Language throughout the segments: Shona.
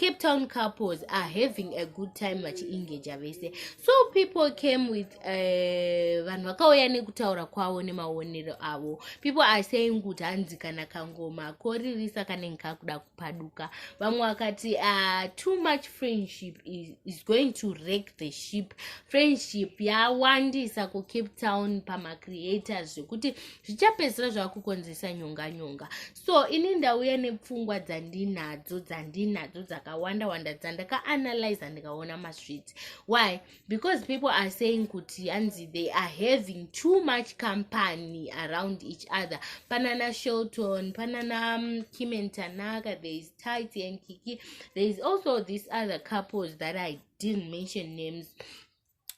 cape town couples are having a good time vachiengaja vese so people came with eh, vanhu uh, vakauya nekutaura kwavo nemaonero avo people are saying kuti hanzi kana kangoma koririsa kanenge kakuda kupaduka vamwe vakati uh, too much friendship is, is going to rake the ship friendship yawandisa kucape town pamacreators zvekuti zvichapedzisira zvava kukonzeresa nyonga nyonga so ini ndauya nepfungwa dzandinadzo dzandinadzo dzakawanda wanda dzandakaanalyza ndikaona masweets why because people are saying kuti hanzi they are having too much company around each other panana shelton panana um, kimen tanaka there is tight and kiki there is also this other couples that i didn't mention names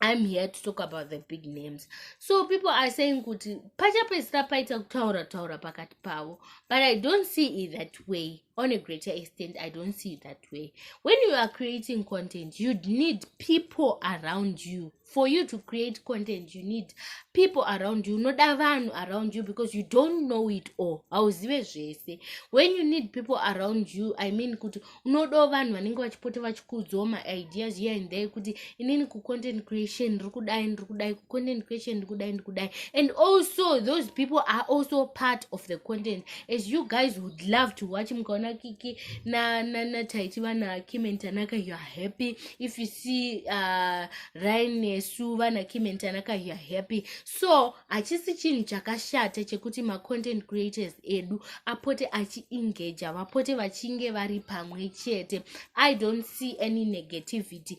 i'm here to talk about the big names so people are saying kuti pachapedzisira paita kutaura taura pakati pavo but i don't see it that way on a greater extent i don't see it that way when you are creating content you need people around you for you to create content you need people around you unoda vanhu around you because you don't know it all hauzive zvese when you need people around you i mean kuti unodawo vanhu vanenge vachipota vachikuudzawo maideas here and there kuti inini kucontent creation ndiri kudai ndiri kudai kucontent creation ndiri kudai ndiri kudai and also those people are also part of the content as you guys would love to watch mukaona kiki nataiti na, na vana kim and tanaka youare happy if you see uh, ryan nesu vana kim and tanaka youare happy so hachisi chinhu chakashata chekuti macontent creators edu apote achiengaja vapote vachinge vari pamwe chete i don't see any negativity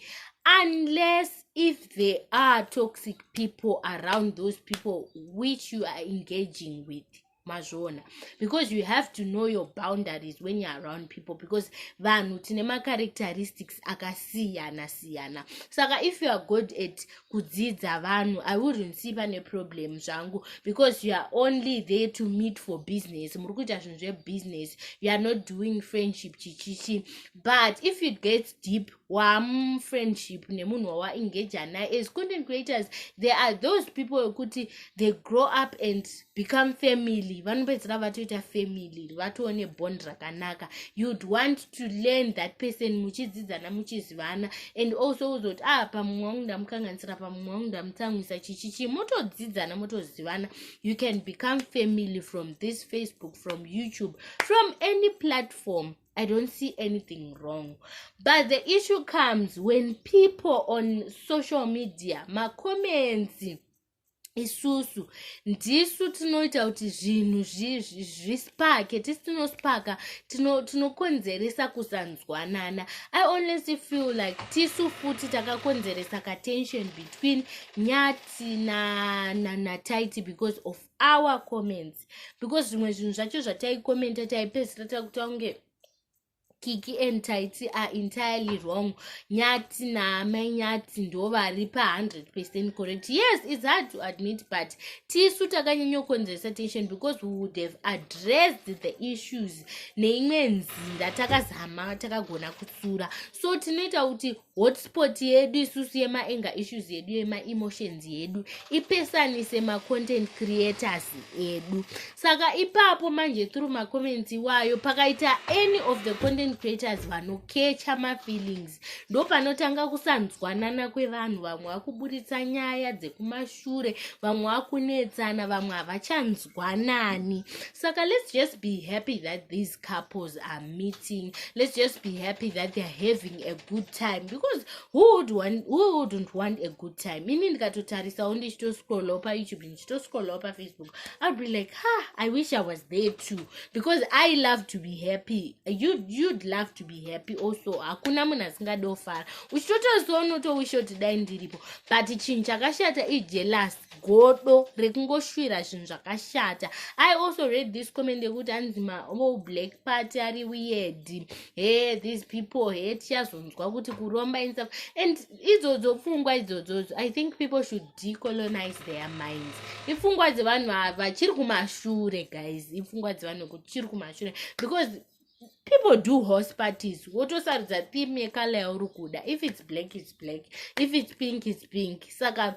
unless if there are toxic people around those people which you are engaging with mazviona because you have to know your boundaries when you're around people because vanhu tine macharacteristics akasiyana siyana saka if you are good at kudzidza vanhu i wouldn't see pane problem zvangu because you are only there to meet for business muri kuita zvinhu zvebusiness you are not doing friendship chichichi but if it gets deep wamufriendship nemunhu wawaengaja naye as content creators there are those people wekuti they grow up and become family vanopedzera vatoita family vatoo nebond rakanaka you'd want to learn that person muchidzidzana muchizivana and also uzoti ah pamumwe wangu ndamukanganisira pamumwe wangu ndamutsamwisa chichichi motodzidzana motozivana you can become family from this facebook from youtube from any platform I don't see anything wrong. But the issue comes when people on social media, ma comments, isusu ndisu tinoita kuti zvinhu zvispake tisi tinospaka tinokonzeresa kusanzwanana i honestly feel like tisu futi takakonzeresa katension between nyati nataiti because of our comments because zvimwe zvinhu zvacho zvataikomenta taipedzisira takuta kunge kiki and taiti are entirely wrong nyati naamai nyati ndo vari pa 100 percent correct yes its hard to admit but tisu takanyanyokonzeresa tension because we would have addressed the issues neimwe nzira takazama takagona kutsura so tinoita kuti hotspot yedu isusu yemaanger issues yedu yemaemotions yedu ipesanise macontent creators edu saka ipapo manje through macomments iwayo pakaita any of the content creators vanokecha mafeelings ndo panotanga kusanzwanana kwevanhu vamwe vakuburitsa nyaya dzekumashure vamwe vakunetsana vamwe havachanzwa kugwanani saka let's just be happy that these couples are meeting let's just be happy that theyare having a good time because who would want, who wouldn't want a good time ini ndikatotarisawo ndichitoscrollawo payoutube ndichitoscrollawo pafacebook ill be like ha i wish i was there too because i love to be happy you'd, you'd love to be happy also hakuna munhu asingadofara uchitotozonotowisho tidai ndiripo but chinhu chakashata ijelasi godo rekungoshuvira zvinhu zvakashata i also read this comment yekuti anzi mao black party ari weird he these people he tichazonzwa kuti kuromba insaf and idzodzo pfungwa idzodzodzo i think people should decolonize their minds ipfungwa dzevanhu ava chiri kumashure guys ipfungwa dzevanhu kuti chiri kumashure because people do horse parties wotosarudza theme yekala yauri kuda if its black its black if its pink its pink saka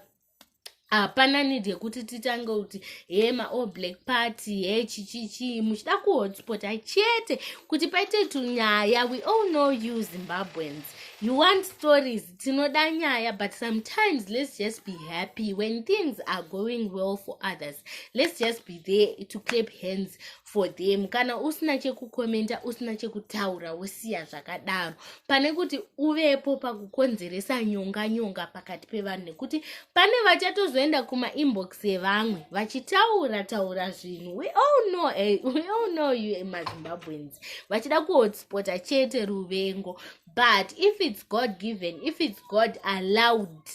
hapana need yekuti titange kuti he maall black party he chichichii muchida kuhotspota chete kuti paite tunyaya we all know you zimbabweans you want stories tinoda nyaya but sometimes let's just be happy when things are going well for others let's just be there to clap hands for them kana usina chekukomenta usina chekutaura wosiya zvakadaro pane kuti uvepo pakukonzeresa nyonga nyonga pakati pevanhu nekuti pane vachatozoenda kumainbox evamwe vachitaura taura zvinhu we all know, eh, we all know you emazimbabweans vachida kuhotspota chete ruvengo but if its god given if its god allowed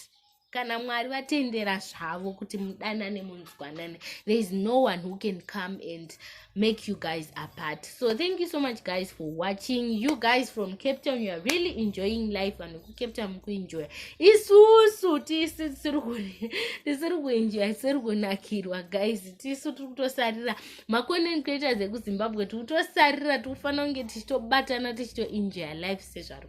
kana mwari vatendera zvavo kuti mudanane munzwanane there is no one who can come and make you guys apart so thank you so much guys for watching you guys from cape town you are really enjoying life vanhu kucape town mukuenjoya isusu tisu tisiri kuenjoya tisiri kunakirwa guys tisu tiri kutosarira macontent creators ekuzimbabwe tiri kutosarira tiri kufanira kunge tichitobatana tichitoenjoya life sezvaro